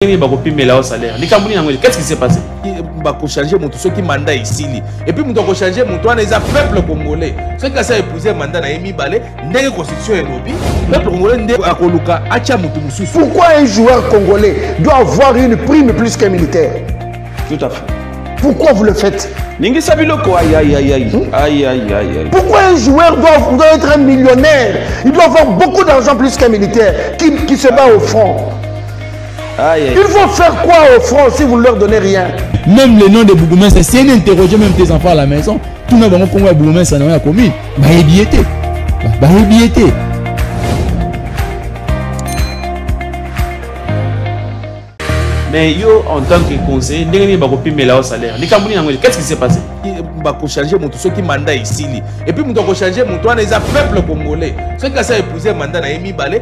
ndenge bakopimela yo salaire likambo nini yango qu'est-ce qui s'est passé bakochange moto soki manda esili epuis moto akochange moto wana eza peuple congolais soki kasi aepouse manda na ye mibale ndenge constitution elobi peuple congolais nde akoluka atya moto mosusu pourquoi un joueur congolais doit avoir une prime plus qu'un militaire tout à fait pourquoi vous le faites ningisa biloko aïe pourquoi un joueur doit, doit être un millionnaire il doit avoir beaucoup d'argent plus qu'un militaire qui, qui se bat au front Aïe, aïe. Il faut faire quoi aux francs si vous ne leur donnez rien Même le nom de bourgmestre, si elle interroge même tes enfants à la maison, tout le monde congo ya bourgmestre na ya commune, ba ebiete. Ba ebiete. mais yo en tant que conseiller ndenge nini bakopimela yo salaire likambo nini yango qu'est-ce qui s'est passé bakochange moto soki manda esili epuis moto akochange moto wana eza peuple congolais soki asi aepouse manda na ye mibale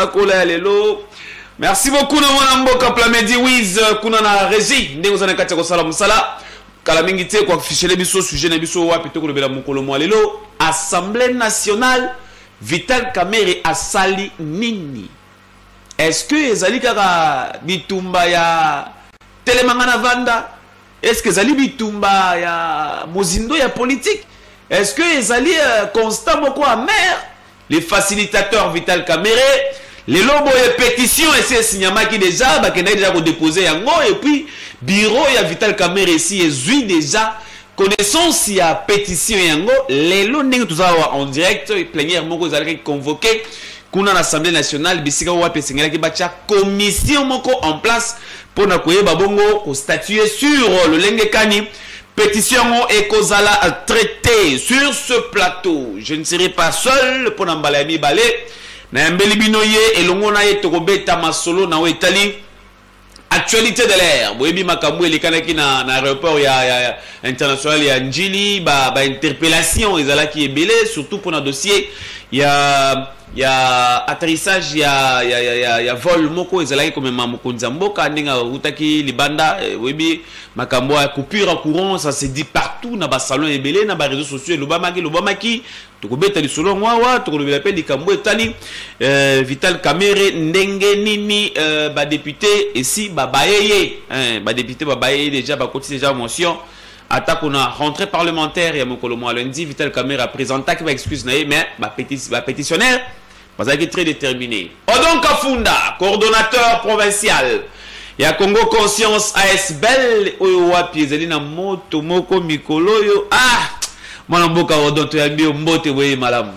sakola ya lelo merci beaucoup na mwana mboka plamedi wiz euh, kuna na regi ndenge oza na kati ya kosala mosala kala mingi te koafishele biso sujet na biso wapi to kolobela mokolo mwa lelo assemblée nationale vital kamere asali nini est-ce que ezali kaka bitumba ya telemanga na vanda est-ce que ezali bitumba ya mozindo ya politique est-ce que ezali euh, constat moko amere Le facilitateur Vital Kamerhe lelo boye petition esi esinyamaki deja bakendaki deja kodepose yango epuis bureau ya Vital Kamerhe esi ezwi deja connaissance ya petition yango lelo ndenge toza awa en direct plenière moko ezalaki convoqué kuna na assemblée nationale bisika wapi esengelaki batya commission moko en place mpo na koyeba bongo kostatue sur lolenge kani Petition yango ekozala traite sur ce plateau. Je ne serai pas seul mpo na mbala ya mibale. Nayambeli bino ye elongo na ye tokobeta masolo na oyo etali actualité de l'air boyebi makambo elekanaki na, na aéroport ya, ya, ya international ya njili bainterpellation ba, ba ezalaki ebele surtout mpona dossier ya ya atterrissage ya, ya, ya, ya, ya vol moko ezalaki komema mokonzi ya mboka ndenge autaki libanda eh, oyebi Makambo ya coupure ya courant ça se dit partout na ba salons ebele na ba réseaux sociaux elobamaki elobamaki tokobeta lisolo yango awa tokolobela mpe likambo etali euh, Vital Kamerhe ndenge nini euh, ba député esi babaye ye hein, ba député babaye ye déjà bakoti déjà motion atako na rentrée parlementaire ya mokolo mwa lundi Vital Kamerhe apresentaki ba excuse na ye mais ba, pétis, ba pétitionnaire Bazalaki très determine. Odon Kafunda, coordonnateur provincial ya Congo Conscience ASBL oyo wapi ezali na moto moko mikolo oyo ah mwana mboka Odon toyambi yo mbote boye malamu.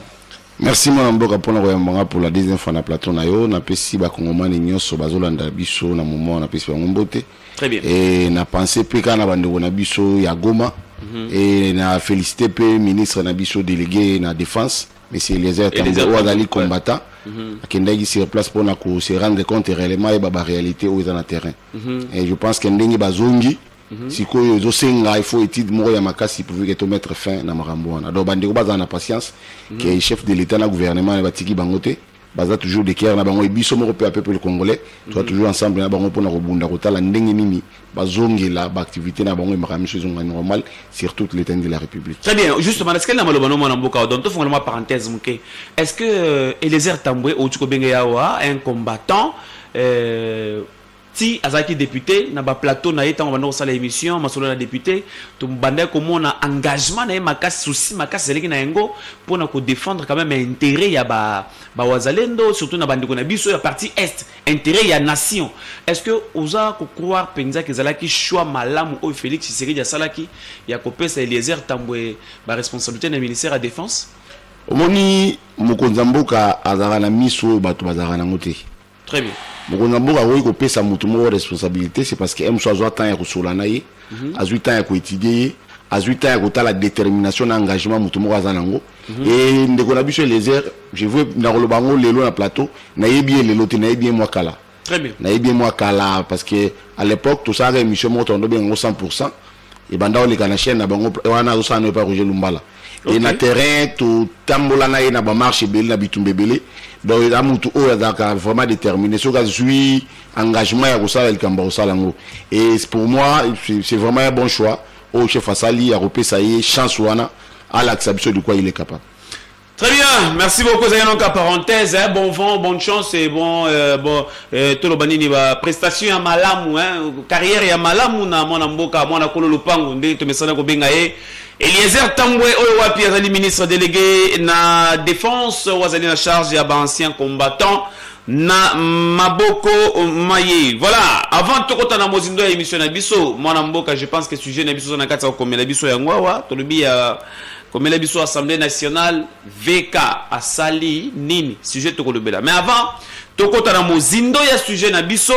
merci mwana mboka mpona koyamba nga mpola deuxième fois na plateau na yo napesi bakongomani nyonso bazolanda biso na moment napesi bango mbote e na pense mpe kaka na bandeko na biso ya goma mm -hmm. e na félicité mpe ministre na biso délégué na défense Monsieur Eliezer Tambwe oyo azali combattant mhm. akendaki sur place mpo na ko se rendre compte réellement ayeba ba réalité oyo eza na terrain mhm. et je pense que ndenge bazongi mhm. sikoyo ezosenga il faut étude moko ya makasi pourvu ke tomettre fin na makambo wana donc bandeko bazala na patience ke chef de l'état na gouvernement na batiki bango te baza toujours de guerre na bango et biso moko mpe peuple congolais toza mhm. toujours ensemble na bango mpona kobunda kotala ndenge nini bazongela baactivité na bango emaka miso ezonga normal sur toute l'état de la république très bien justement est ce que na maloba no mwana mboka donc tofongola mwa parenthèse moke est ce que euh, elezer tambwe outi kobenge yawa un combattant euh, ti azalaki depute na ba plateau na ye ntango banda kosala émission masolo na depute tobandaki komona engagement na ye makasi souci makasi ezalaki na yango mpo na kodefendre quand même intérêt ya bawazalendo ba surtout na bandeko na biso ya parti est intérêt ya nation est ce que oza kocroire mpenza ke ezalaki choix malamu oyo félix tshisekedi asalaki ya kopesa eliezer tambwe baresponsabilité na ministère ya défense omoni mokonzi ya mboka azalaka na miso oyo bato bazalaka nango te Très bien. Mokonzi ya mboka akoki kopesa moto moko responsabilité, c'est parce que MSO azwa temps ya kosola na ye, mhm. azwi temps ya koétudier ye, azwi temps ya kotala détermination na engagement moto moko aza nango. Mhm. Et ndeko na biso Eliezer, je veux nakoloba yango lelo na plateau, nayebi ye lelo te, nayebi ye mwa kala. Très bien. Nayebi ye mwa kala parce que à l'époque tosalaka émission moko tondo benga yango 100%. ebanda oleka na chaîne na bango wana azosala no epai roger lumbala okay. e na terrain totambola na ye na bamarche ebele na bitumba ebele donc eza motu oyo azalaka vraiment déterminé soki azwi engagement ya kosala likambo ya kosala yango e pour moi c'est vraiment un bon choix oyo chef asali ya kopesa ye chance wana alakisa biso likwa il est capable Très bien, merci beaucoup. Vous avez donc à parenthèse, hein, bon vent, bonne chance et bon, euh, bon, euh, tout le banini va prestation à malamu, hein, carrière à malamu na mon amboka, mon akolo lupango, nde tu me sana ko benga e. Eliezer Tambwe oyo wapi azali ministre délégué na défense, ou azali na charge ya ba anciens combattants na maboko maye voilà avant tokota na mozindo ya émission na biso mwana mboka je pense que sujet na biso oza na kati ya kokomela biso yango awa tolobi ya komela biso assemblée nationale vk asali nini sujet tokolobela mais avant tokota na mozindo ya sujet na biso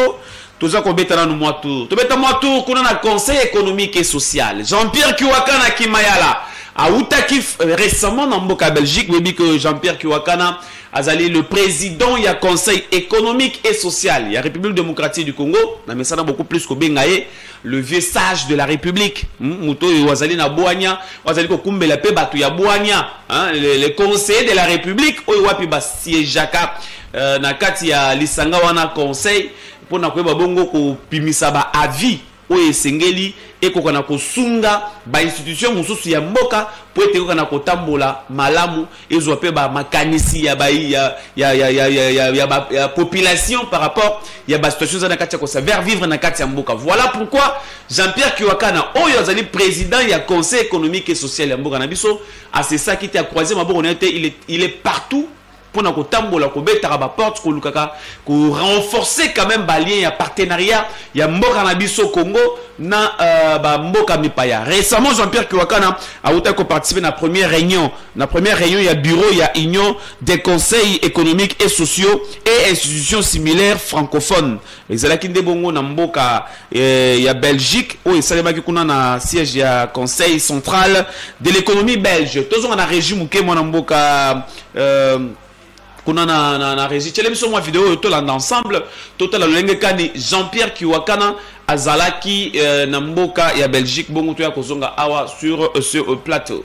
toza kobeta nanu mwa tour tobeta mwa tour kuna na conseil économique et social jean-pierre kiwakana kimayala awutaki euh, récemment na mboka belgique boyebi que jean-pierre kiwakana azali le président ya conseil économique et social ya république démocratique du congo na mesana beaucoup plus kobenga ye le vieux sage de la république hmm, moto oyo azali na bwania azali kokumbela mpe bato ya bwania hein, le, le conseiller de la république oyo wapi basiegeaka euh, na kati ya lisanga wana conseil mpo na koyeba bongo kopimisa baavis oyo esengeli ekoka na kosunga bainstitution mosusu ya mboka mpo ete ekoka na kotambola malamu ezwa mpe ba makanisi ya ba ya ya ya ya ya ya ya ba ya population par rapport ya ba situation eza na kati ya kosa vers vivre na kati ya mboka voilà pourquoi Jean-Pierre Kiwakana oyo azali président ya conseil économique et social ya mboka na biso asesaki te akroise maboko na ye te il est il est partout mpo na kotambola kobetaka baporte kolukaka korenforcer quand même balien ya partenariat ya mboka na biso congo na uh, bamboka mipaya récemment jean-pierre kiwakana awutaki koparticipe na première réunion Na première réunion ya bureau ya Union des conseils économiques et sociaux et institutions similaires francophones ezalaki nde bongo na mboka eh, ya Belgique oyo esalemaki kuna na siège ya conseil central de l'économie belge tozonga na régie moke mwana mboka euh, kuna na, na, na régie tyele biso mwa video oyo tolanda ensemble totala lolenge kani Jean-Pierre Kiwakana azalaki euh, na mboka ya Belgique bongo toya kozonga awa sur euh, ce euh, plateau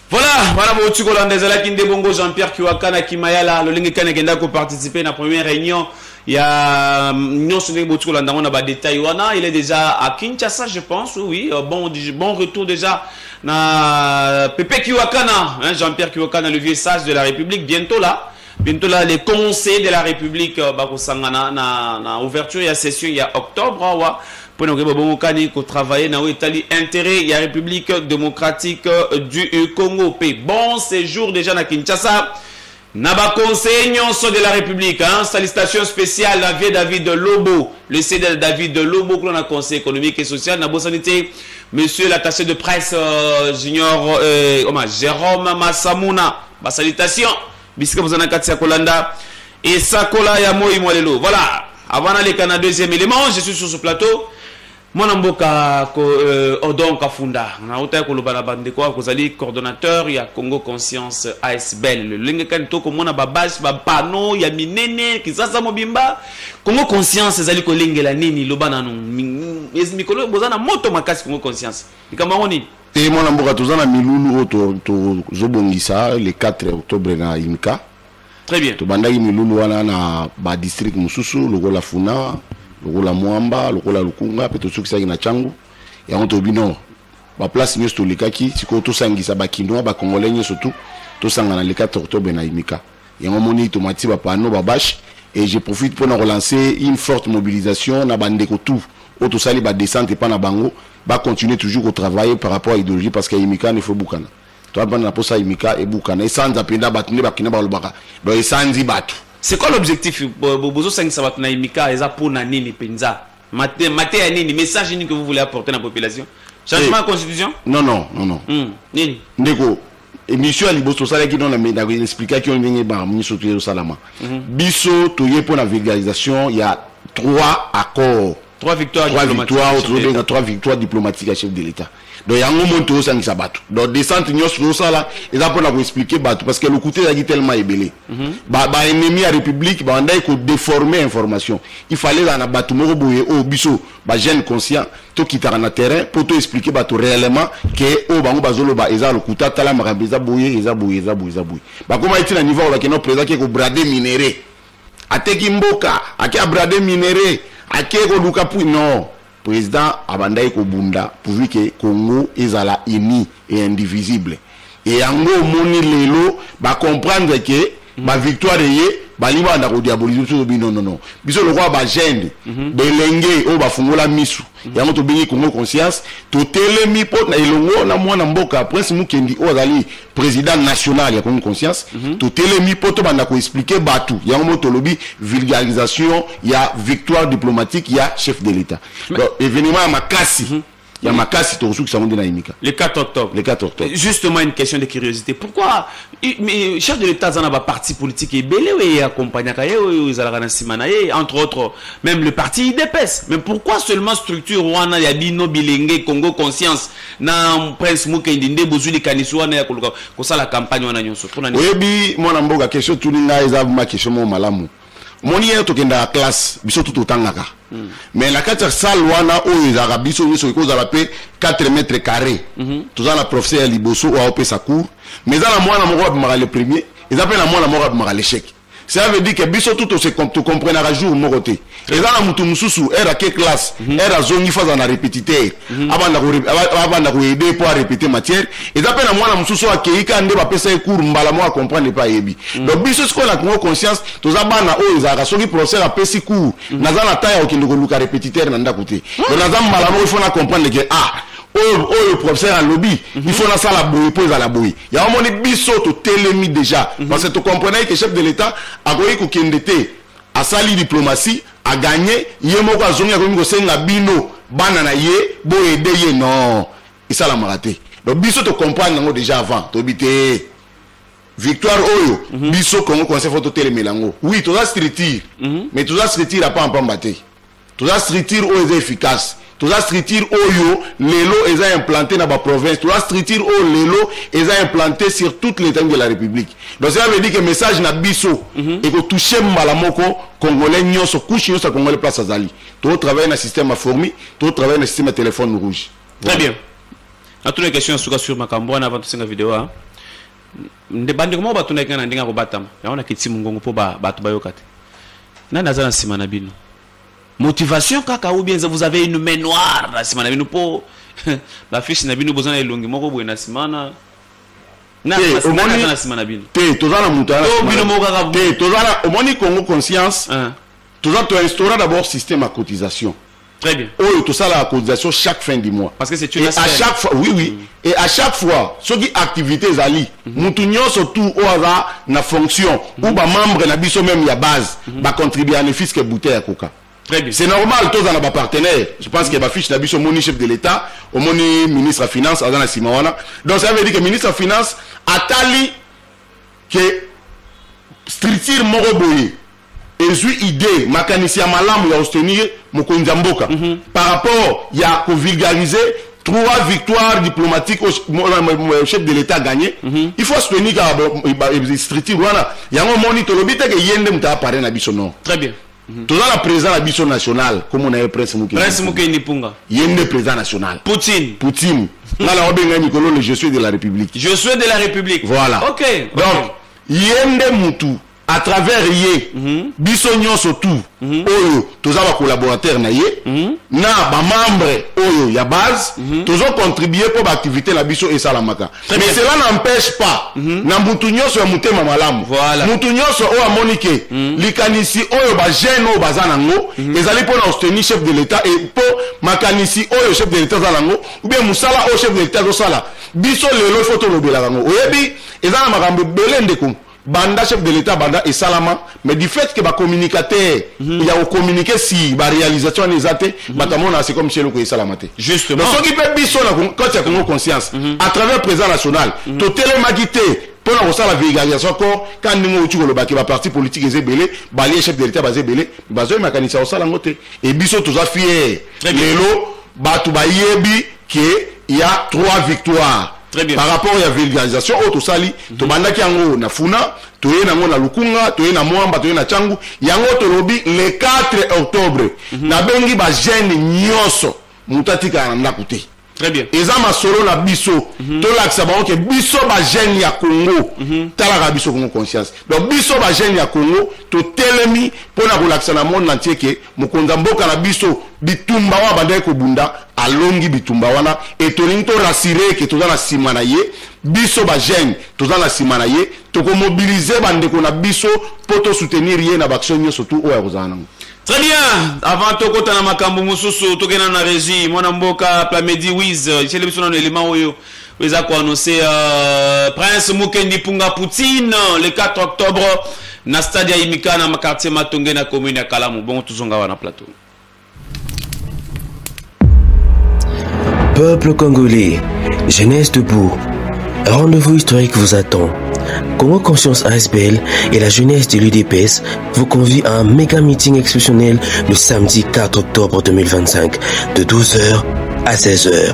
Voilà, wana bouti kolanda ezalaki nde bongo Jean-Pierre Kiwaka na Kimayala lolenge kani akenda ko participer na première réunion ya mm, nyonso ndenge bouti kolanda yango na ba détails wana il est déjà à Kinshasa je pense oui euh, bon bon retour déjà na Pepe Kiwakana hein, Jean-Pierre Kiwakana le vieux sage de la République bientôt là Bintola, les conseillers de la République euh, bakosangana na, na ouverture ya session ya octobre awa mpo na koyeba bongo kani kotravaille na oyo etali intérêt ya République démocratique euh, du Congo mpe bon séjour déjà na Kinshasa na baconseiller nyonso de la République hein? salutation spéciale na vieux David Lobo le CDL David Lobo kuna na conseil économique et social na bosani te monsieur l'attaché de presse euh, junior euh, Jérôme Massamuna ba salutation bisika boza na kati ya kolanda esakola ya moi mwa lelo voilà avant naleka na deuxième élément je suis sur ce plateau mwana mboka ko, euh, odon kafunda nauta ya koloba na bandeko oyo kozali coordonnateur ya congo conscience asbel lolenge kani to komona babase bapano ya minene kisasa mobimba congo conscience ezali kolengela nini loba nanu mikolo boza na moto makasi congo conscience likambo yango nini e mwana mboka toza na milulu oyo tozobongisa le 4 octobre na imka très bien tobandaki milulu wana na badistrict mosusu lokola funa lokola mwamba lokola lukunga mpe tosukisaki na cangu yango toyebi no baplace nyonso tolekaki sikoyo tosangisa bakinois bacongolais nyonso tu tosangana le 4 octobre na imika yango moni tomati ba panneau ba bâche et je profite pour relancer une forte mobilisation na ba ndeko tout oyo tosali ba descente epa na bango ba continuer toujours ko travailler par rapport à idéologie parce que imika ne faut bukana toi bana na posa imika ebukana esanza penda bato nde bakina balobaka donc esanzi bato c'est quoi l'objectif bozosangisa bato na imika eza mpona nini mpenza mate, mate ya nini message nini que vous voulez apporter na population changement ya eh. constitution non non non non hmm. nini ndeko emission ya liboso osalaki no naexplikaki yo ndenge ba miso toye osalama mhm. biso toye mpo na vulgarisation ya trois accords trois victoires trois victoires tozobenga trois victoires diplomatique ya chef de l'état donc yango moni tozosangisa bato donc descente nyonso tozosala eza mpona koexplike bato parce que lokuta ezalaki tellement ebele mhm. baennemi ya république babandaki kodéforme information il fallait ezala na bato moko boye oyo oh, biso ba jeune conscient tokitaka na terrain mpo to expliquer bato réellement ke oyo bango bazoloba eza lokuta tala makambo eza boye eza boye eza boye eza boye bakomaki ti na niveau oyo bakenda président ke kobrade minere ateki mboka ake abrade minere ake koluka pui non président abandaki kobunda pourvu ke congo ezala uni et indivisible Et yango omoni lelo ba comprendre que mm. ba victoire eye balingi banda kodiabolize biso tobi non non non biso lokola bagene mm -hmm. belenge oyo bafungola misu mm -hmm. yango tobengi congo conscience totelemi mpo na elongo na mwana mboka prince mukendi oyo azali président national ya congo conscience mm -hmm. totelemi mpo tobanda koexplike bato yango mo tolobi vulgarisation ya victoire diplomatique ya chef de l'état Mais... donc événement ya makasi mm -hmm. ya makasi tokosukisa yango nde na imika le 4 octobre le 4 octobre justement une question de curiosité pourquoi mais chef de l'état aza na baparti politique ebele oyo ye accompagnaka ye oyo ezalaka na nsima na ye entre autres même le parti idps mais pourquoi seulement structure wana ya bino bilenge congo conscience na prince mukendi nde bozwi likanisi wana ya koluka kosala campagne wana nyonso mpo na oyebi mwana mboka question tuni ngai eza ma question moko malamu omoni ye tokendaka classe biso tu totangaka mm. mais na kati ya salle wana oyo ezalaka biso nyonso ekozala mpe 4 mètre carré mm -hmm. toza na professeur ya liboso oyo aopesa cour mais eza na mwana moko abimaka le premier eza mpe na mwana moko abimaka l'échec ça veut dire que biso tu tokomprenaka jour moko te eza na motu mosusu ere ake classe ere mhm. azongi fo azala na repetiter Mhm. abanda ko abanda ko aider pour répéter matière et d'après la mwana mususu akeyi ka nde bapesa ye cours mbala moko comprendre epai ayebi mhm. donc biso sikoyo na congo conscience toza bana oyo ezalaka soki professeur apesi cours mhm. naza na temps ya kokende koluka répétiteur na ndako te ah. donc naza mbala moko ifo na comprendre ke ah oyo oyo professeur alobi il faut nasala boye mpo ezala boye yango omoni biso totelemi déjà parce que tocomprenaki ke chef de l'état akoki kokende te asali diplomatie a gagne ye moko azongi akomi kosenga bino bana na ye boyede ye non esalamaka te donc biso tocomprendre yango déjà avant toyebi te victoire oyo mm -hmm. biso congo conseil fo totelemela yango oui toza structure mm -hmm. mais toza structure apamba mpamba te toza structure oyo eza efficace toza structure oyo lelo eza implante na baprovince toza structure oyo lelo eza implante sur toute l'état de la république donc cela veut dire que message na biso mm -hmm. ekotouche mbala moko congolais nyonso couche nyonso ya congolais place azali totravaille na système ya fourmi totravaille na système ya téléphone rouge très bien natuna question ya suka sur makambo wana avant tosenga video a nde bandeko moko batunaki ngai na ndenge ya kobatama yango na kiti mongongo mpo bato bayoka te nani aza na nsima na bino Motivation kaka ou bien vous avez une main noire na sima na bino po ba fiche na bino boza na elongi moko boye na sima na te toza na moto te toza na omoni congo conscience ah. toza toinstaura d'abord système ya cotisation Très bien. Oyo, tout ça, la cotisation chaque fin du mois. Parce que c'est une Et à chaque fois, oui, oui. Mm. et à chaque fois soki activité ezali mhm. mutu nyonso tout oyo aza na fonction ou mhm. bamembre na biso meme ya base mhm. bacontribue ya nefis ke bouteille ya koka c'est normal toza na bapartenaire je pense que bafiche na biso omoni chef de l'état omoni ministre ya finance aza na nsima wana donc ça veut dire que ministre ya finance atali ke structure moko boye ezwi idee makanisi ya malamu ya ostenir mokonzi ya mboka mm -hmm. par rapport ya kovulgarize trois victoires diplomatiques au chef de l'état gagné mm -hmm. il faut soutenir kaka structure wana yango omoni tolobi te ke ye nde moto apare na biso non très bien mm -hmm. toza na président na biso national komona ye prince mukeprince mukendi mpunga ye nde président national poutine poutine nga na obengai mikolo le je suis de la république je suis de la république voilà okay. donc ye nde mutu à travers ye mhm. biso nyonso tu mhm. oyo toza bacolaborateur na ye mhm. na bamembre oyo ya base tozocontribue mpo baactivité na biso esalamaka mais cela n'empêche pas na mutu nyonso ya motema malamu mutu nyonso oyo amoni ke likanisi oyo bajeune oyo baza nango ezali mpo na ostenir chef de l'état e mpo makanisi oyo chef de l'état aza nango oubien mosala oyo chef de l'état azosala biso lelo fo tolobelaka yango oyebi eza na makambo ebele ndeko banda chef de l'état banda esalama mais du fait que bacommunicateur mm -hmm. ya kocommunike si baréalisation wana eza te mm -hmm. bato amona se comme sieloko esalama te justement soki mpe biso na kati ya congo conscience mm -hmm. à travers président national mm -hmm. totelemaki te mpo na kosala vulgarisation kor ka ndenge outi kolobaki baparti politique eza ebele balie chef de l'état baza ebele bazoyi makanisi ya kosala yango te e biso toza fiere lelo bato bayebi que il y a trois victoires Très bien. par rapport ya vulgarisation oyo tosali mm -hmm. tobandaki yango na funa toye nango na lukunga toye na mwamba toye na cangu yango tolobi le 4 octobre mm -hmm. nabengi bagene nyonso moto atikala na ndako te Très bien. eza masolo na biso mm -hmm. tolakisa bango ke biso bagene ya congo mm -hmm. talaka biso congo conscience donc biso bagene ya congo totelemi mpo na kolakisa na monde na ntie ke mokonzi ya mboka na biso bitumba oyo abandaki kobunda alongi bitumba wana e tolingi torasire eke toza na nsima na ye biso bajeune toza na nsima na ye tokomobilize bandeko na biso mpo tosoutenir ye na baaction nyonso tu oyo akozala nango Très bien, avant tokota na makambo mosusu tokenda na régie mwana mboka Plamedi Wiz cele biso na élément oyo eza koannonce uh, prince mukendi punga poutine le 4 octobre na stade ya imika na quartier matonge na commune ya kalamu bongo tozonga wana plateau Peuple congolais, jeunesse debout, un rendez-vous historique vous attend. Congo Conscience ASBL et la jeunesse de l'UDPS vous convient à un méga meeting exceptionnel le samedi 4 octobre 2025 de 12h à 16h.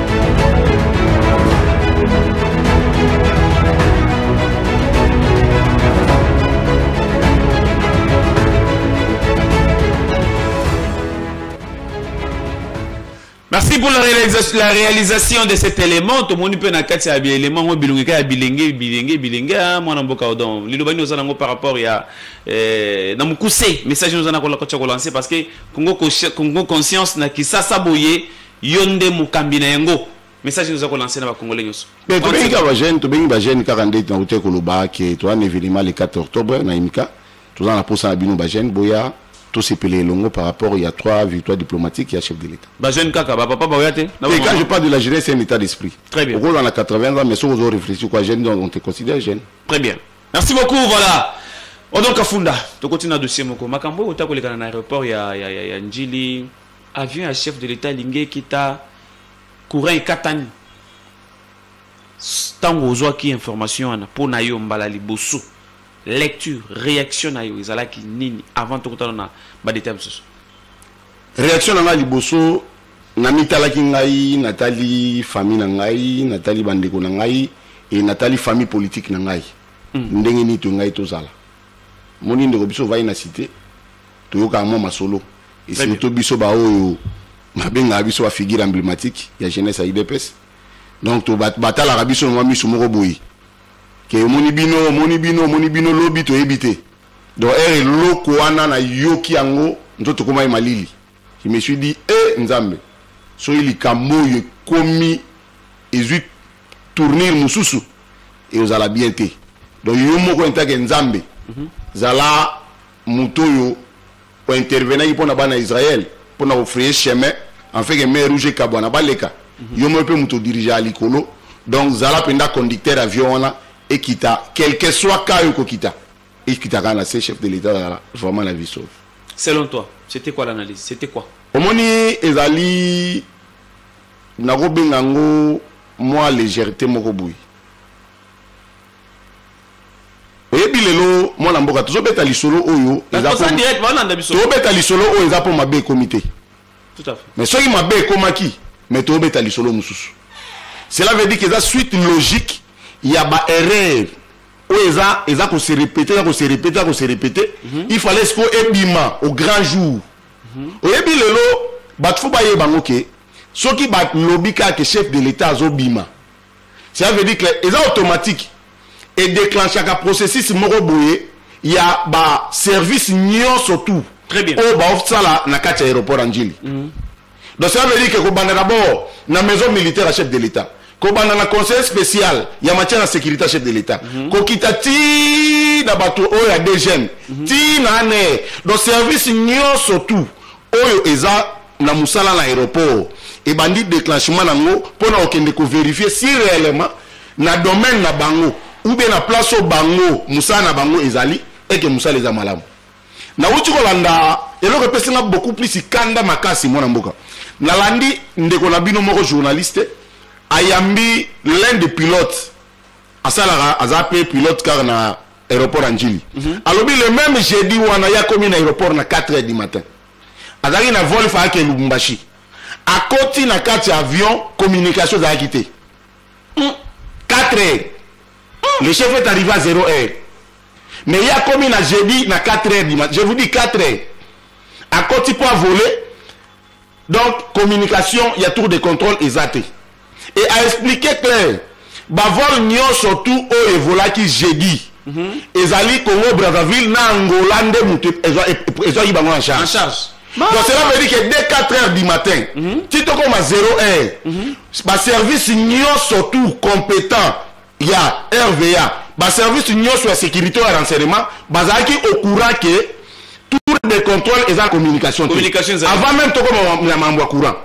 merci pour la réalisation, la réalisation de cet élément tomoni mpe na kati ya biélément ngo bilongi kaka ya bilenge bilenge bilenge ah, mwana mboka odon liloba nini oza nango par rapport ya eh, na mokuse message nini oza na kotya kolancer parce que congo conscience na kisasa boye Yo nde mokambi na yango. Message nini oza ko lancer na ba congolais nyoso? Mais tobengi kaka ba jeunes, tobengi ba jeunes kaka ndeti na uteko loba ke toza na evenement le 4 octobre na Imika. Toza na posa na bino ba jeunes boya tosepela elongo par rapport ya trois victoires diplomatiques ya chef de l'état bajeune kaka bapapa baoya te quand je parle de la jeunesse c'est un état d'esprit très bien okolwa na 80 ans mais soki ozo réfléchir quoi jeune donc on te considère jeune très bien merci beaucoup voilà odon kafunda tokoti na dossier moko makambo oyo ota kolekana na aéroport ya, ya, ya, ya njili avion ya chef de l'etat elingi ekita courant ekatani ntango ozwaki information wana mpo na yo mbala liboso lecture réaction na yo ezalaki nini avant tokotana na badeta mosusu réaction na ngai liboso namitalaki ngai natali famille na ngai natali bandeko na ngai e natali famille politique na ngai mm. ndenge nini to ngai tozala moni ndeko biso ovai na cité toyokaka mwa masolo esurtout biso baoyo babengaka biso bafigure emblématique ya jeunesse ya idps donc batalaka biso na mwa miso moko boye ke omoni bino omoni bino omoni bino lobi toyebi te donc ere eloko wana nayoki yango nto tokomaki malili je me suis dit e eh, nzambe soki likambo oyo ekomi ezwi tournir mosusu ekozala bien te donc yo moko entake nzambe mhm. zala moto oyo o intervenaki mpo na bana ya israel mpo na kofraye chemin en fait que mer rouge ekabwana baleka mhm. yo moko mpe moto odirigea likolo donc zala mpenza conducteur avion wana ekita quelque soit ka yo kokita ekita kaka na se chef de l'état azala vraiment la vie sauve selon toi c'était quoi l'analyse c'était quoi omoni ezali nakobenga yango mwa légèreté moko boye oyebi lelo mwana mboka tozobeta lisolo oyo tobeta lisolo oyo eza mpo mabe ekomi te mais soki mabe ekomaki mais tobeta lisolo mosusu cela veut dire que eza suite logique ya baerreur oyo eza eza kose repete eza kose repete eza kose repete mhm. il fallait siko ebima au grand jour mhm. oyebi lelo bato fo bayeba yango ke soki balobi kaka ke chef de l'état azobima cela veut dire que eza automatique e déclenchaka processus moko boye ya ba service nyonso tout oyo baosala na kati ya aéroport ya njili mm. donc cela veut dire que kobanda d'abord na maison militaire ya chef de l'état kobanda na conseil spécial ya matière ya sécurité ya chef de l'état mm -hmm. kokita ti na bato oyo ya dgm mm -hmm. ti na ane donc service nyonso tout oyo eza na musala na aéroport ebandi déclenchement nango pona okende ko vérifier si réellement na domaine na bango ou bien na place oyo bango musala na bango ezali eke musala eza malamu nauti kolanda eloko epesi nga beaucoup plus ikanda makasi mwana mboka nalandi ndeko na bino moko journaliste ayambi l'un de pilote asalaka aza pe pilote kaka na aéroport ya njili mm -hmm. alobi le même jeudi wana ye akomi na aéroport na 4 heures du matin azalaki na vol faake lubumbashi akoti na kati ya avion communication ezalaki te 4 hmm. heures hmm. le chef est arrivé à 0 heure mais ye akomi na jeudi na 4 heures du matin je vous dis 4 heures akoti mpo avole donc communication ya tour de contrôle eza te et a expliqué clair bavol nyonso tout oyo evolaki jeudi mm -hmm. ezali congo brazzaville na angola nde moto ezwaki bango en charge, en charge. Donc cela veut dire que dès 4 heures du matin, mm -hmm. tu te comme à 0 heure, mm -hmm. service surtout compétent ya rva baservice nyonso ya sécurité ya renseignement bazalaki au courant ke tour de contrôle eza communication te avant même tokoma na mambo ya courant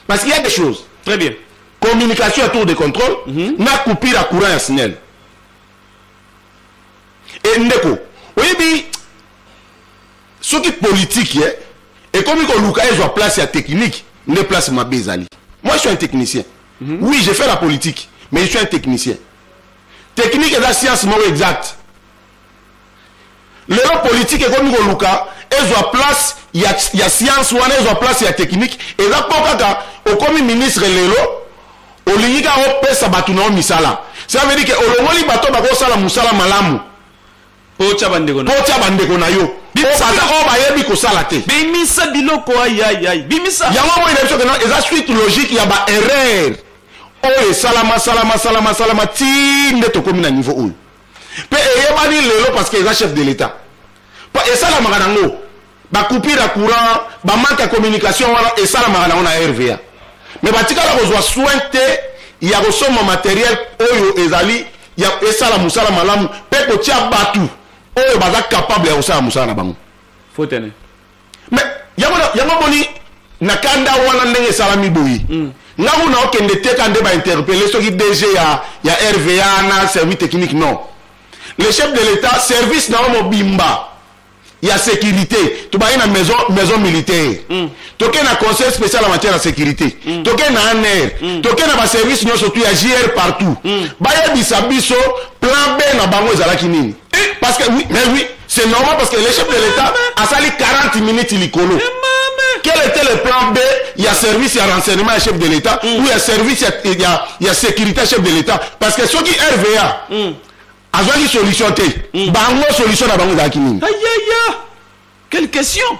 parce qu'il y a des choses très bien communication ya tour de contrôle mm -hmm. na coupure ya courant ya snel e ndeko oyebi soki politike eh, ekomi koluka ezwa place ya technique nde place mabe ezali moi je suis un technicien Mhm. Oui, j'ai fait la politique, mais je suis un technicien. Technique la science moko exacte. lelo politike ekomi koluka ezwa place ya, ya science wana ezwa place ya technique eza mpo kaka okomi ministre lelo olingi kaka opesa bato na yo misala ça veut dire ke olongoli bato bakosala mosala malamu mpo otya bandeko na mpo otya bandeko na yo Bimisa oyo baza- biloko. oyo bayebi kosala te bimisa biloko ayayay bimisa yango moi na biso kena eza suite logique ya baerreur oyo esalama salama salama salama ti nde tokomi na niveau oyo mpe eyebani lelo parce que eza chef de l'état mpo esalamaka nango bacoupure ya courant bamanke ya communication wana esalamaka nango na rva me batikala kozwa soin te ya kosomba materiel oyo ezali ya esala mosala malamu mpe kotya bato oyo baza capable ya kosala mosala na bango fotene me yango yango moni na kanda wana ndenge esalami boye mm. nga kuna okende teka nde bainterpele soki dg ya, ya rva na service technique non le chef de l'état service na yo mobimba ya sécurité tobaye na maison, maison militaire mm. toke na conseil spécial en matière ya sécurité mm. toke na anr mm. toke na baservice nyonso tu ya jr partout mm. bayebisa biso plan b na bango ezalaki nini eh? parce que oui, mais oui c'est normal parce que le chef de l'état asali 40 minutes likolo quel était le plan B Il y a service, il y a renseignement, il y a chef de l'État, mm. ou il y a service, il y a, y a, y a sécurité, chef de l'État. Parce que ceux qui RVA, mm. azwaki solution te mm. bango solution na bango ezalaki nini ayaya quelle question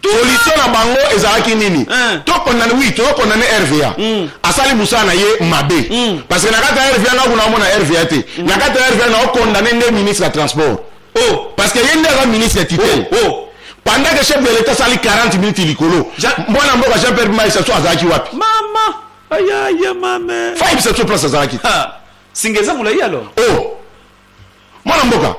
solution na bango ezalaki nini eh. tokondane wi tokondane rva mm. asali mosala na ye mabe mm. parce que na kati ya rva nako naomona rva te mm. na kati ya rva naokondane nde ministre ya transport oh. parce que ye nde aza ministre ya titel oh, oh. pendant que chef de l'état asali 40 minutes likolo mwana mboka jean pierre maisa so azalaki wapi mama ayaya mame faibisaso place azalaki singa eza molai alors o oh! mwana mboka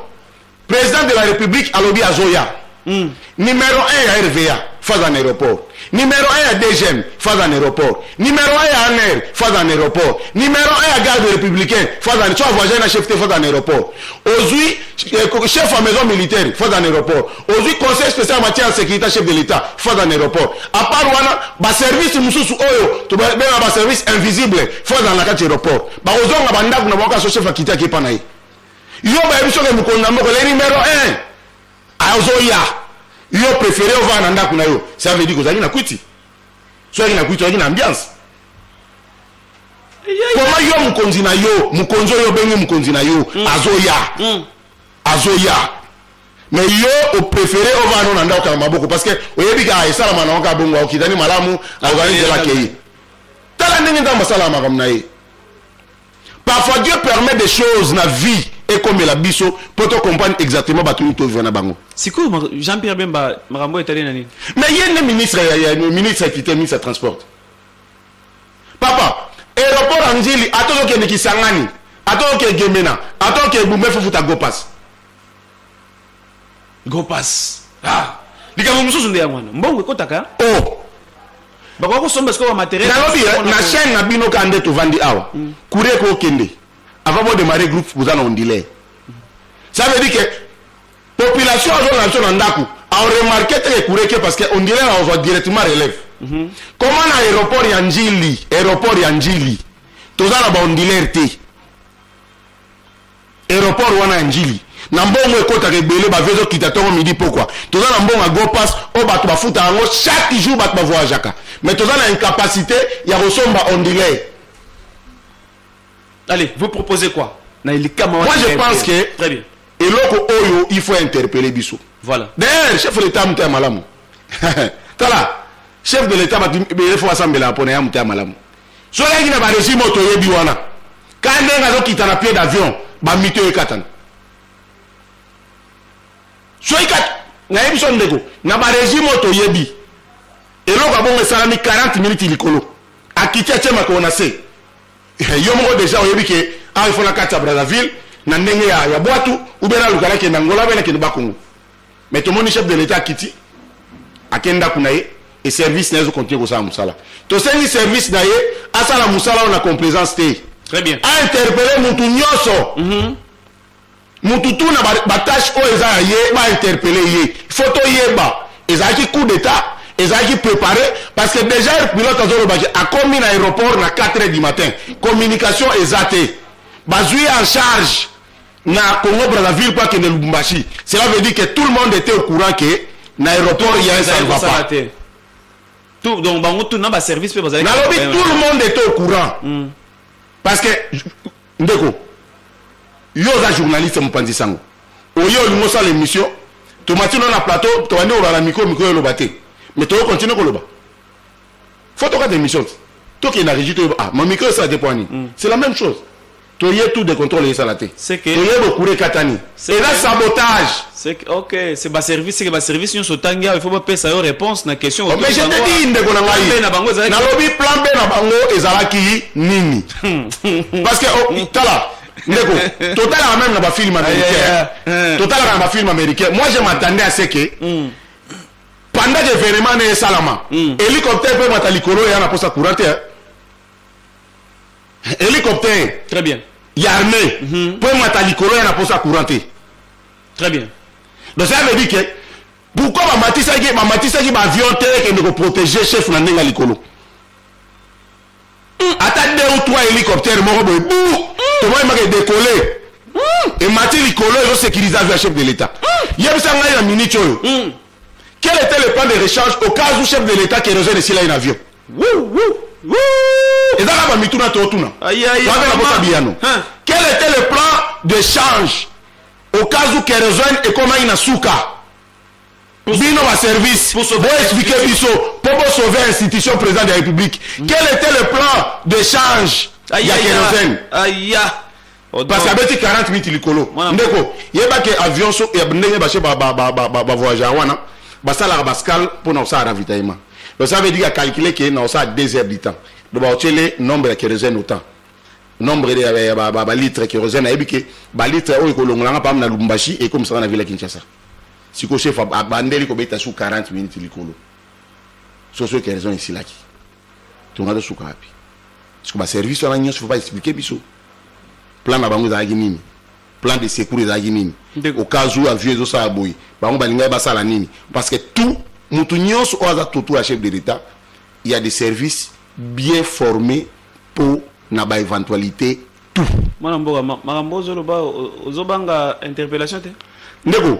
président de la république alobi azoya mm. numéro 1 ya rva phase en aéroport numéro 1 ya dgm phase en aéroport numéro 1 ya aner phase en aéroport numéro 1 ya garde républicain phase en so avoisin na chef te phase en aéroport ozwi eh, chef ya maison militaire phase en aéroport ozwi conseil spécial matière ya sécurité chef de l'état phase en aéroport à part wana baservice mosusu oyo tobenga baservice invisible phase en na kati aéroport bakozonga bandako na bango kaka sosefa kiti ake epa na ye yo bayebi soki mokonzi na mboka ezali numero 1 azoya yo prefere ovaa na ndako na yo ça veut dire kozalaki na kwiti soki na kwiti ozalaki na ambiance koma yo mokonzi na yo mokonzi oyo obengi mokonzi na yo mm. azoya mm. azoya me yo oprefere ovaa no na ndako kaka maboko parce que oyebi kaka esalama na yo kaka bongo okitani malamu akozali nzela kei tala ndenge nzambe asalaka makambo na ye parfois dieu permet des choses na vie ekomela biso mpo tocomprendre exactement bato nini tovivre na bango sikoyo jean pierre bemba makambo oyo etali na nini mais ye nde ministre ya ministre ya kite ministre ya transport papa aéroport ya njili ata ozokende kisangani ata oke gemena ata oke ebumba efufuta gopas gopas ah likambo mosusu nde yango wana mbongo ekotaka oh bakoki kosomba sikoyo bamateriel nalobi eh, na chaine na bino kaka nde tovandi awa mm. kuri ekokende avant bodemare groupe boza na ondile ça veut dire que population azolanda biso na ndako aoremarke te ekureke parce que ondile na ozwa directement relève mhm. comment na aéroport ya njili aéroport ya njili toza na baondilaire te aéroport wana ya njili na mbongo ekotaka ebele bavio ezokita ntongo midi pokwa toza na mbongo ya gopas oyo bato bafutaka yango chaque jour bato bavoyageaka mais toza na incapacité ya kosomba ondilai allez vous proposez quoi na elikama moi je pense que très bien eloko oyo il faut interpeller biso voilà d'ailleurs chef de l'état moto ya malamu tala chef de l'état bato efo basambelaka mpona ya moto ya malamu soki ayaki na baregime oyo toyebi wana ka ndenge azokita na pied d'avion bamito ekatana soki kati nayebi so ndeko na baregime oyo toyebi eloko abongo esalami 40 minutes likolo akiti atye makolo na se eh, yo moko deja oyebi ke awa ifo na kati ya brazzaville na ndenge ya, ya bwatu ube naluka nakende angola be nakende bakongo mais tomoni chef de l'etat akiti ake ndako na ye e service na ye ezokontinue kosala mosala tosengi service na ye asala mosala oyo na complaisance te très bien ainterpele mutu nyonso mm -hmm. mutu tu na batâche oyo eza ya ye bainterpele ye fo toyeba ezalaki coup d'état ezalaki préparé parce que déjà air pilote azolobaki akomi na aéroport na 4 heures du matin communication eza te bazwi en charge na Congo Brazzaville mpo akende Lubumbashi cela veut dire que tout le monde était au courant que na aéroport ya ça ne va pas tout donc bango tout na ba service mpe bazali nalobi tout le monde était au courant mm. parce que ndeko yo oza journaliste mopanzi sango oye olingi osala émission tomati no na plateau tobandi koloba na mikro mikro eloba te mais toyo continue koloba fo tokata émission tokende na régi toyeba ah mamikro esala te mpo ani mm. c'est la même chose toye tout de contrôle ezala te toye bokure katani eza sabotage ok c'est ba service seke ba service nyonso otangi awa il faut bapesa yo réponse na question oh, mais je te dis ndeko na ngai nalobi plan b na bango ezalaki nini parce que oh, tala ndeko totalaka même na bafilme américain totalaka na bafilme américain moi je m'attendais à ce que hmm. pendant que événement na esalama hmm. hélicoptère mpe mata likolo eya na posa courant te hélicoptère très bien ya armée mhm. mpo emata likolo ya na mposa courant te très bien donc ça veut dire que pourquoi bamatisaki bamatisaki baavion te ekende koprotege chef na ndenge ya likolo hmm. ata deux ou trois hélicoptère moko boye bu hmm. tomoyemaka edekole hmm. emati likolo ezosécurise avion ya chef de l'état yebisa ngai na minute oyo Quel était le plan de rechange au cas où chef de l'État qui kérosène esila ye na avion eza kaka bamituna totuna waka na kota biyano quel était le plan de change au cas où kérosène ekomaki na suka bino baservice boexplike biso mpo bosauve institution président de la république mm. quel était le plan de change ya kérosène parce abeti 40 minutes likolo ndeko yeba ke avion so ya ndenge bashe bavoyage yango wana basalaka bascale mpo na kosala ravitaillement donc ça veut dire acalcule ke na kosala 2 heures du temps donc baotyele nombre ya kérosène autant nombre ya balitre kérosène ayebi ke balitre oyo ekolongolanga mpam na lubumbashi ekomisaka na ville ya kinshasa sikoyo chef abandeli kobeta su 40 minutes likolo soso kérosène esilaki tonga tosuka wapi siko baservice wana nyonso fo baexplike biso plan na bango ezalaki nini plan de secours ezalaki nini au cas où avion ezosala boye bango balingaki basala nini parce que tout motu nyonso oyo aza tutu ya chef de l'état il y a des services bien formés mpo na ba éventualité tout mwana mboka makambo ozoloba ozobanga interpellation te ndeko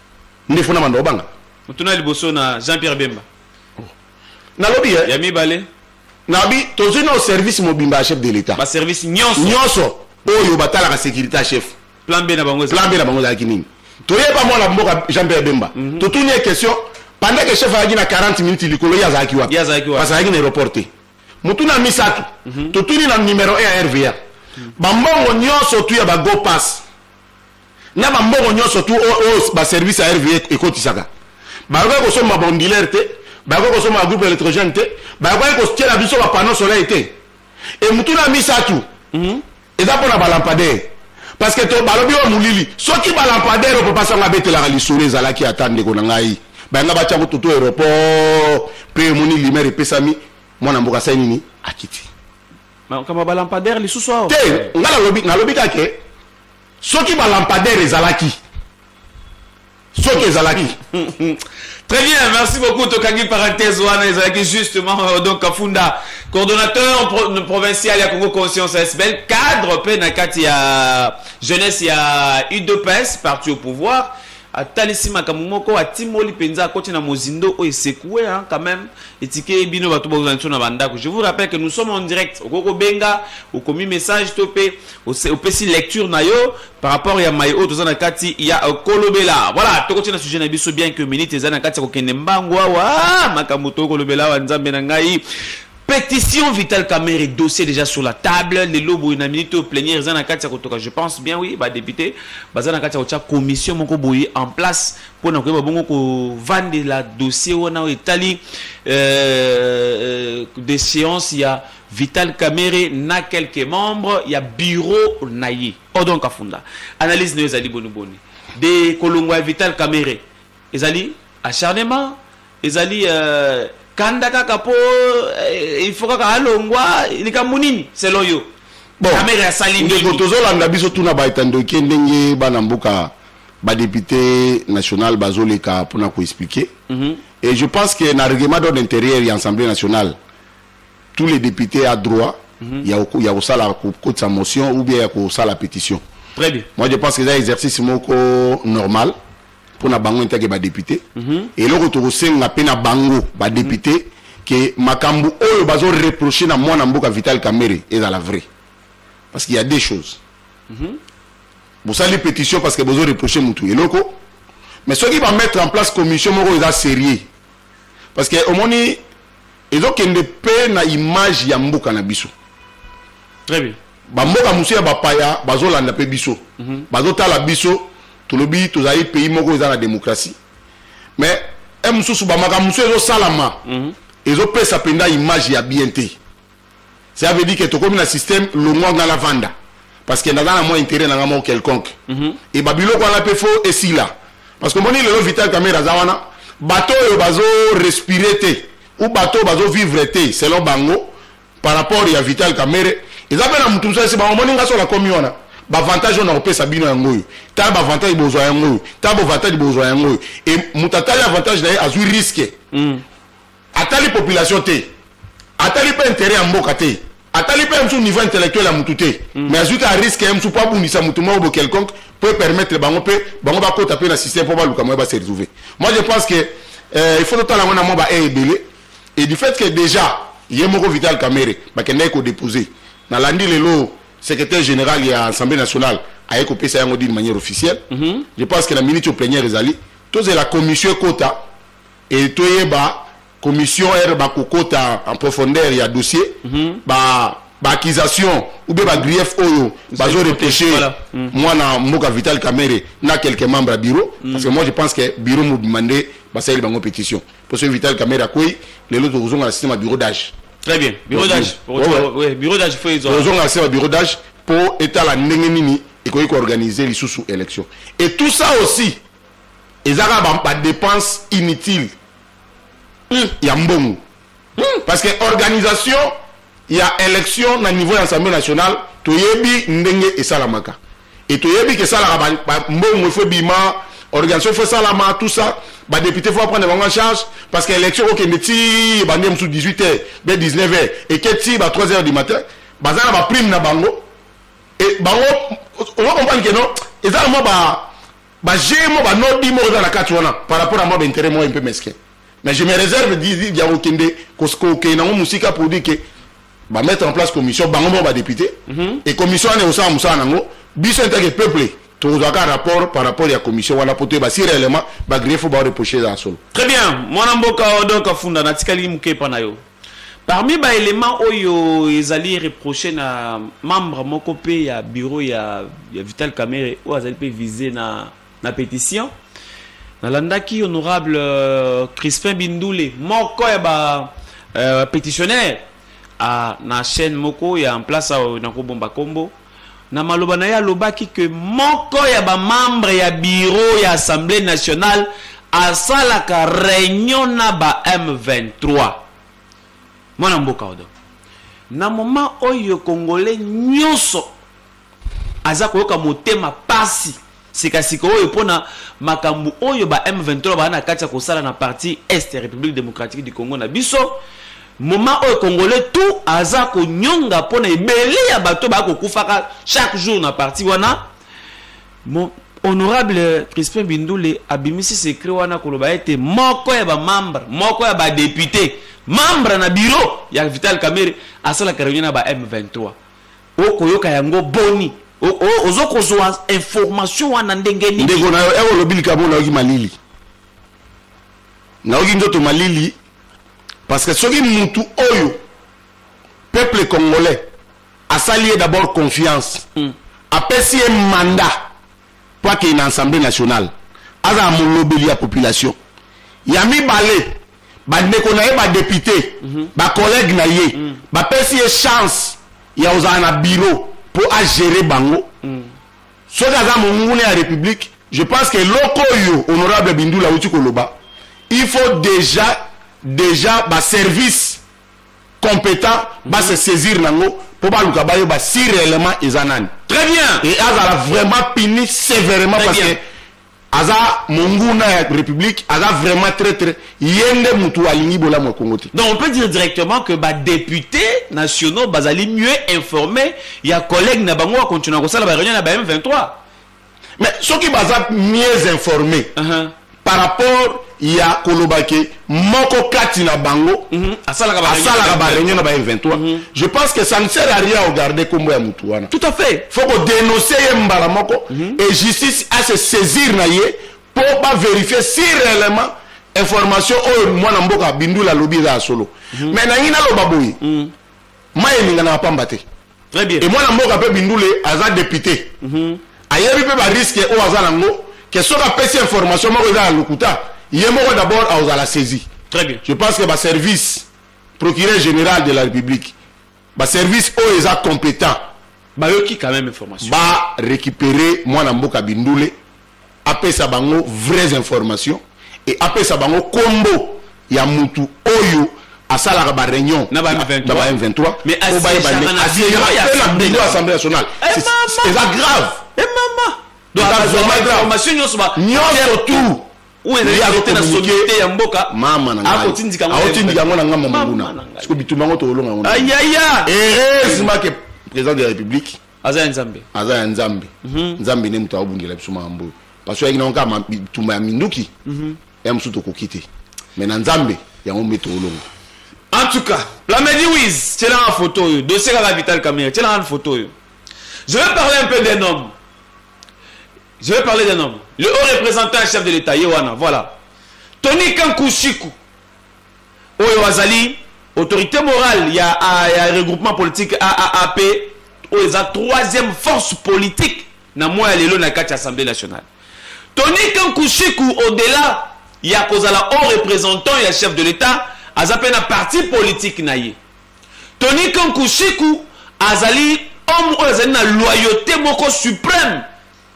nde fona manda obanga motuna liboso na jean pierre bemba oh. nalobi eh? ya mibale nabi tozwi nao service mobimba ya chef de l'état baservice nyonso nyonso oyo batalaka sécurité ya chef plan b na bango plan b na bango ezalaki nini toyeba mwana mboka jean pierre bemba mhm. totuni ye question pendant que chef ayaki na 40 minutes likolo ye azalaki wapi parce ayaki na aéroport te motuna misato mhm. totuni na numero 1 ya rva bambongo nyonso tu ya bago passe na bambongo nyonso tu oyo oh, oh, baservice ya rve ekotisaka bayokai kosomba bondiler te bayokai kosomba bagroupe électrogène te bayokai kotiela biso bapano soleil te e motuna ya misato mhm. eza mpo na balampadaire parce que to balobi oyo molili soki balampadaire oyo papa sango abetelaka lisolo ezalaki ata ndeko na ngai bayanga batya kututu aéroport mpe omoni limere epesami mwana mboka sai nini akiti makambo balampadaire lisusu awa te ngai nalobi kake soki ba lampadaire ezalaki soki ezalaki très bien merci beaucoup tokangi parenthèse wana ezalaki justement euh, donc kafunda coordonnateur pro provincial ya congo conscience sbel cadre mpe na kati ya jeunesse ya udps parti au pouvoir atalisi makambo moko atimoli mpenza akoti na mozindo oyo esekue hein, quand même etike bino bato bozala biso na bandako je vous rappelle que nous sommes en direct okoki kobenga okomi message to mpe opesi lecture na yo par rapport ya mai oyo toza na kati ya euh, kolobela voilà tokoti na sujet na biso bien que minute eza na kati ya kokende mbangu awa ah, makambo tokolobela awa nzambe na ngai Petition Vital Kamerhe dossier déjà sur la table lelo boye na minute oyo plénière eza na kati ya kotoka je pense bien oui ba député baza na kati ya kotya commission moko boye en place mpo na koyeba bongo kovandela dossier wana oyo etali euh, euh, déchéance ya Vital Kamerhe na quelques membres ya bureau na ye Odon Kafunda analyse na yo ezali boni boni de kolongwa ya Vital Kamerhe ezali acharnement ezali euh, kanda kaka po euh, il faut kaka alongwa likambo nini selon yo kamere asali nini tozolanda biso tuna baetandoke ndenge bana mboka badepute national bazoleka mpona koexplike mm -hmm. et je pense que na règlement d'ordre intérieur ya assemblée nationale tous les députés a droit mm -hmm. ya kosala kokotisa motion ou bien ya kosala pétition très bien moi je pense que eza exercice moko normal mpo na bango entake badepute mm -hmm. eloko tokosenga mpe na bango badepute mm -hmm. ke makambo oyo bazoreproche na mwana mboka vital kamere ezala vrai parce qu'il y a deux choses mm -hmm. bosali pétition parce que bozoreproche motu eloko mais soki bamettre en place commission moko eza sérieux parce que omoni ezokende pe na image ya mboka na biso très bien bamboka mosusu ya bapaya bazolanda mpe biso mm -hmm. bazotala biso tolobi tozali pays moko eza na démocratie mais e mosusu bamakambo mosusu ezosalama mm -hmm. ezopesa mpenza image ya bien te ça veut dire que tokomi na système longwa nga na vanda parce que naza na mwa intérêt na nga moko quelconque mm -hmm. et babiloko wana mpe fo esila parce que omoni lelo vital camere aza wana bato oyo bazo respire te ou bato oyo bazo vivre te selon bango par rapport ya vital camere eza mpe na motu mosusu esi bango omoni nga so nakomi wana bavantage oyo nakopesa bino yango oyo tala bavantage bozwa yango oyo tala bavantage bozwa yango oyo e moto atali avantage na ye azwi riske mm. atali population te atali mpe interet ya mboka te atali mpe mosusu niveau intellectuel ya motu te mm. mais azwi kaka risque ya mosusu mpo abundisa motu moko bo quelconque mpo epermettre bango mpe bango bakota mpe na système mpo baluka moye base retrouve moi je pense que euh, il faut totala yango na mwa ba e ebele et du fait que déjà ye moko vital camere bakendaki kodepose nalandi lelo secrétaire général ya assemblée nationale aye kopesa yango d'une manière officielle mm -hmm. je pense que na minute oplenière ezali tozela commission ekota et toyeba commission r bakokota en profondeur ya dossier mm -hmm. ba baakisation ou bien bagrief oyo bazoreproche hmm. mwana mboka vital kamere na quelques membres ya bureau hmm. parce que moi je pense que bureau mobima nde basaleli bango pétition mpo soki vital kamere akwei lelo tokozonga na système ya bureau d'age très bien bureau d'age bureau d'age fo ezwa tozonga na système ya bureau d'age mpo etala ndenge nini ekoki koorganize lisusu élection et tout ça aussi eza kaka ba, ba dépense inutile mm. ya mbongo mm. parce que organisation ya élection na niveau ya assemblée nationale toyebi ndenge esalamaka et toyebi ke esalaka mbongo efo ebima organisation efo esalama tout ça badepute fo aprendre bango en charge parce que élection okende ti bande mosusu 18 heures be 19 heures eke ti ba 3 heures du matin baza na baprime na bango e bango ozo comprendre ke non eza na mwa ba ba jeu mo ba no dimo eza na kati wana par rapport à moi ba intérêt moi un peu mesquin mais je me réserve dit ya okende ko ko ke na musika pour dire que ba mettre en place commission bango mo ba député mm -hmm. et commission ne osala musala nango biso en tant que peuple tozwaka rapport par rapport ya commission wana po toyeba si réellement bagrefo baoreproche eza ya solo très bien mwana mboka oyo donc afunda natikali mokepa na yo Parmi ba elements oyo ezali reproche na membre moko pe ya bureau ya, ya Vital Kamerhe oyo azali pe vise na, na petition nalandaki honorable euh, Crispin Bindule moko ya ba euh, petitionnaire ah, na chaîne moko ya en place awa nakobomba kombo na maloba na ye alobaki ke moko ya bamembre ya biro ya assemblée nationale asalaka reunion na ba m23 mwana mboka odo na moma oyo kongole nyonso aza koyoka motema pasi Sikasika oyo mpo na makambo oyo ba M23 baa na kati ya kosala na parti est ya Republique democratique du Congo na biso, moment oyo Congolais tout aza konyonga mpo na ebele ya bato baa kokufaka chaque jour na parti wana, mo, honorable Crispin Bindule abimisi secret wana koloba ete moko ya ba membre moko ya ba depute membre na bureau ya Vital Kamerhe asalaka reunion na ba M23 okoyoka yango boni ozo kozwa information wana ndenge nini ndeko na yo eko lobi likambo nayoki malili nayoki nzoto malili parce que soki mutu oyo peuple congolais asali ye d'abord confiance mm. apesi ye mandat po akende na assemblée nationale azala molobeli ya population ya mibale bandeko na ye badepute mhm. bacollègue na ye mhm. bapesi ye chance ya kozala na biro mpo agere bango mhm. soki aza monguna ya république je pense que eloko oyo honorable bindula auti koloba il faut déjà déjà baservice competent mm -hmm. ba se saisir nango po baluka bayeba si réellement eza nani très bien et azala vraiment puni sévèrement parce que aza monguna ya république aza vraiment traitre ye nde motu alingi bolamu ya congo te donc on peut dire directement que badéputés nationaux bazali mieux informé ya collègue na bango akontinua kosala baréunion na ba m23 mais soki baza mieux informé uh -huh. par rapport ya koloba ke moko kati na bango mm -hmm. asalaka bareunion na ba M23 mm -hmm. je pense que ça ne sert à rien ogarde kombo ya mutu wana tout à fait faut kodenonce ye mbala moko mm -hmm. et justice a se saisir na ye mpo baverifie si réellement information oyo mwana mboka bindula alobi eza ya solo mm -hmm. mais nangi naloba boye mm -hmm. mai eninganaka pamba te très bien et moi la mboka pe bindule aza député mm -hmm. ayebi pe ba risque oyo aza nango que soki apesi information moko eza ya lokuta ye moko d'abord akozala saisi très bien je pense que ba service procureur général de la république ba service oyo eza compétent bayoki quand même information ba récupérer mwana mboka bindule apesa bango vraies informations et apesa bango kombo ya mutu oyo asalaka ba réunion na ba M23 po bayeba assemblée nationale eza grave nyonso tout aotindika yango na ngambo monguna siko bitumba yango tokolonga yango heureusement ke président de la république aza ya nzambe aza ya nzambe mhm. nzambe nde moto aobundela biso makambo oyo parce que oyaki nango kaka bitumba ya minduki mhm. ya mosusu tokoki te mais na nzambe yango mbe toolongo en tout cas plamedi wis tielanga photo oyo dossier kaka vital camere tielanga na photo oyo je vais parler un peu d'un homme je vais parler d'un homme le haut représentant chef de l'état ye wana voilà tony kankushiku Oyo azali autorite morale ya, ya regroupement politique AAAP oyo eza troisième force politique na mois ya lelo na kati ya assemblée nationale tonike nkushiku au-delà ya kozala haut représentant ya chef de l'état aza mpe na parti politique na ye tonike nkushiku azali homme oyo azali na loyauté moko suprême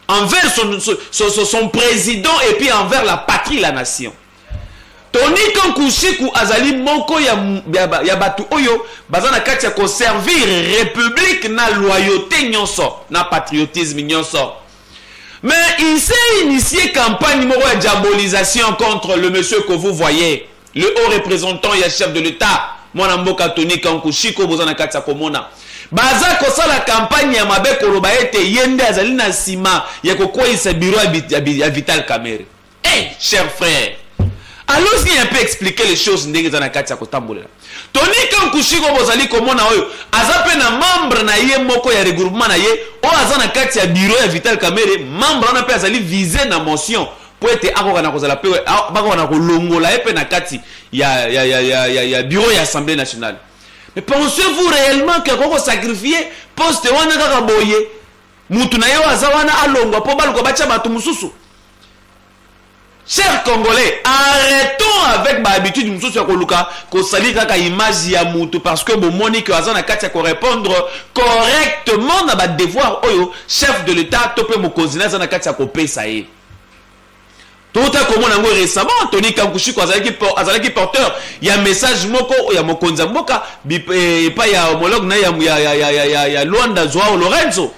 envers son, son, son, son président et puis envers la patrie la nation Tony Kankusiku azali moko ya, ya, ya bato oyo baza na kati ya koservir republique na loyauté nyonso na patriotisme nyonso mais il s'est initié campagne moko ya diabolisation contre le monsieur que vous voyez le haut représentant ya chef de l'état mwana mboka Tony Kankusiku boza na kati ya komona baza kosala kampagne ya mabe koloba ete ye nde azali na nsima ya kokweyisa biro ya vital kamere Hey, cher frère, allons-y un peu expliquer les choses ndenge eza na kati ya kotambolela. Tony Kankushiko bozali komona oyo aza mpe na membre na ye moko ya regroupement na ye oyo aza na kati ya bureau ya Vital Kamerhe, membre wana mpe azali vise na motion mpo ete akoka na kozala mpe bakoka na kolongola ye mpe na kati ya, ya, ya, ya, ya, ya bureau ya Assemblée nationale. Mais pensez-vous réellement que koko sacrifier poste wana kaka boye mutu na ye oyo aza wana alongwa mpo baluka batya bato mosusu cher congolais arrêtons avec bahabitude mosusu ya koluka kosali kaka image ya motu parce que bomoni ke aza na kati ya korépondre correctement na badevoir oyo chef de l'état to mpe mokonzi na aza na kati ya kopesa ye touta komona yango récemment antony kankushiko azalaki, azalaki porteur ya message moko ya mokonzi ya mboka eh, epai ya homologue na ya, ya, ya, ya, ya, ya, ya luanda joao lorenzo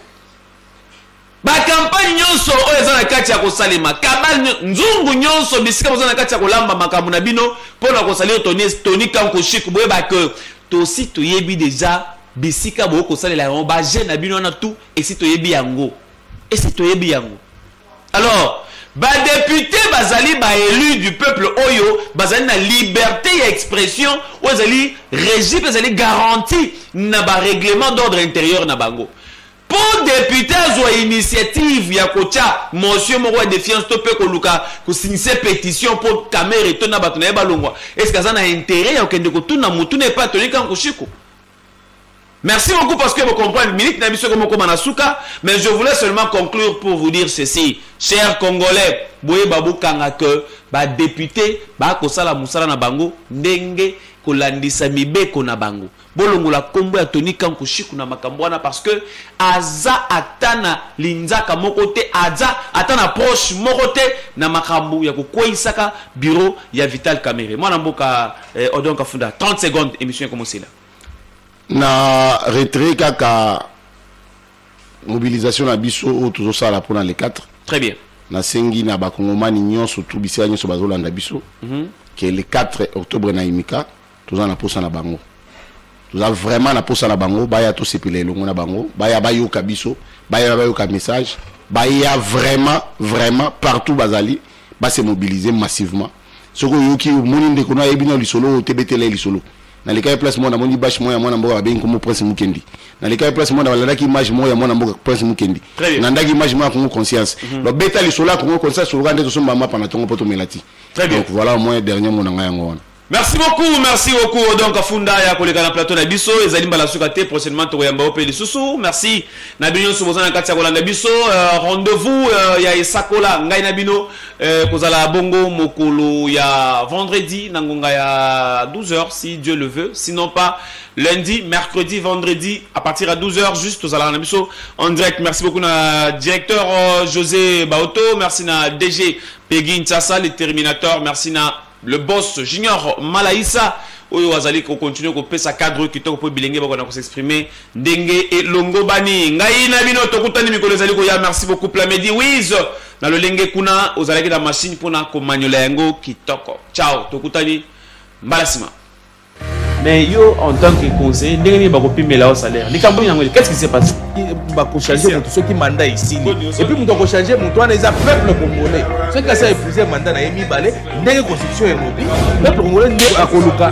Ba campagne nionso oyo eza na kati ya kosalema, cabale nzungu nionso, bisika boza na kati ya kolamba makambo na bino pona ko salir Tony, Tony Kanku Chic, boyeba que tosi toyebi deja bisika boye kosalela yango, ba jeux na bino wana tout esi toyebi yango, esi toyebi yango. Alors badepute bazali baelu du peuple oyo bazali na liberté ya expression oyo ezali régie mpe ezali garantie na barèglement d'ordre intérieur na bango Po depute azua initiative ya kotia motion moko ya defiance to pe koluka ko signise petition po Kamerhe to na bato na ye balongwa, est ce que aza na interet ya kokende kotuna motuna epai ya Tony Kankushiko? Merci beaucoup parce que vous comprenez, minute na biso comme comme suka, mais je voulais seulement conclure pour vous dire ceci. Chers Congolais, boye babu kanga que ba député ba kosala musala na bango ndenge kolandisa mibeko na bango. Bolongola kombo ya Tony Kanku Shiku na makambo wana parce que aza ata na linzaka moko te, aza ata na proche moko te na makambo ya kokweyisaka bureau ya Vital Kamerhe. Mwana mboka eh, Odon Kafunda 30 secondes émission ekomosela. Na retrait kaka mobilisation na biso oyo tozosala mpona le 4 très bien nasengi na bakongomani nyonso tu bisika nyonso bazolanda biso mm -hmm. ke le 4 octobre na imika toza na posa na bango toza vraiment na posa na bango baya tosepela elongo na bango baya bayoka biso baya bayoka message baya vraiment vraiment partout bazali base mobiliser massivement soki oyoki omoni ndeko no ayebi na lisolo oyo tebetela ye lisolo nalekaki place moko namoni bashe moko ya mwana mboka babengi nkombo prince mukendi nalekaki place moko nalandaki image moko ya mwana mboka prince mukendi nandaki image moko ya congo conscience mhm. babeta lisolo ya congo conscience oloka nde tosomba mapa na ntongo mpo tomela ti donc voilà moyen dernier mona ngai yango wana Merci beaucoup, merci beaucoup. Donc Afunda ya koleka na plateau na biso ezali mbala suka te prochainement tokoyamba ope lisusu. Merci. Na bino nyonso boza na kati ya kolanda biso euh, rendez-vous euh, ya esakola ngai na bino euh, kozala bongo mokolo ya vendredi na ngonga ya 12h si Dieu le veut, sinon pas lundi, mercredi, vendredi à partir à 12h juste tozala na biso en direct. Merci beaucoup na directeur euh, José Baoto, merci na DG Peggy Ntsasa le Terminator, merci na le boss junior malaisa oyo azali kocontinue kopesa cadre oyo kitoko mpo bilenge bakona kosexprime ndenge elongobani ngai na bino tokutani mikolo ezali koya merci beaucoup plamedi wise na lolenge kuna ozalaki na mashine mpona komanyola yango kitoko ciao tokutani mbala nsima mais yo en tant que conseiller ndenge nini bakopimela yo salaire likambo nini yango qu'est-ce qui se passe bakochange moto soki manda esili epuis moto akochange moto wana eza peuple congolais soki asi aepuise manda na ye mibale ndenge constitution elobi peuple congolais nde akoluka